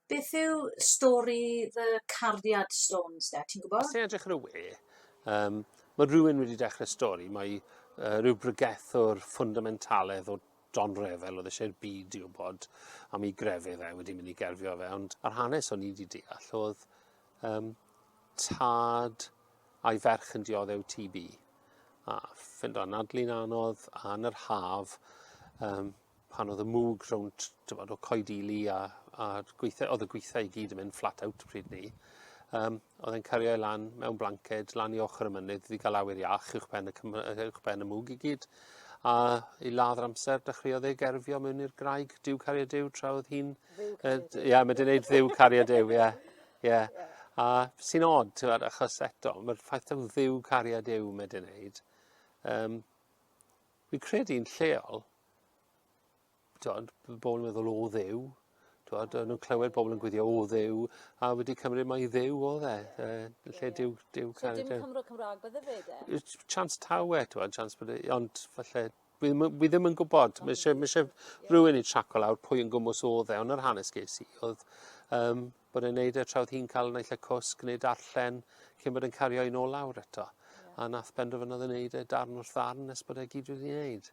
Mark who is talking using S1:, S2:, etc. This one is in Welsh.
S1: Beth yw stori fy cariad Stones de, ti'n gwybod? Os ti'n edrych ar y we, um, mae rhywun wedi dechrau stori, mae uh, rhyw bregethwr ffundamentaledd o Don Refel oedd eisiau'r byd i wybod am ei grefydd e wedi mynd i gerfio fe, ond yr hanes o'n i wedi deall oedd Yym, tad a'i ferch yn dioddef TB. A fynd o anadlu'n anodd a yn yr haf, um, pan oedd y mwg rownd, tywod, o coedili a, a gweitha, oedd y gweitha i gyd yn mynd flat out pryd ni, um, oedd e'n cario ei lan mewn blanced, lan i ochr y mynydd, wedi cael awyr iach uwch ben y, uwch ben y mwg i gyd. A i ladd yr amser, dechreuodd ei gerfio mewn i'r graig, diw cario diw, tra oedd hi'n Ia, mae dyn neud ddiw cariad yw, ia. Ia. A sy'n od, ti'n fawr, achos eto, mae'r ffaith am ddiw cariad yw mae dyn neud. Um, fi'n credu'n lleol, ti'n bobl yn meddwl o ddiw, Dwod, nhw'n clywed bobl yn gwyddio o ddew, a wedi cymryd mae ddew o dde, uh, lle yeah. diw, diw cael. So dim Cymro Cymraeg bydde fe de? Chance tawe, dwod, chance bydde, ond falle Fi, fi ddim yn gwybod. Mae eisiau, mae eisiau rhywun i traco lawr pwy yn gwmwys oedd e, ond yr hanes ges i oedd um, bod e'n neud e trawd hi'n cael naill y cwsg neu darllen cyn bod yn cario un ôl lawr eto. Yeah. A nath benderfynodd yn neud e darn wrth ddarn nes bod e gyd wedi neud.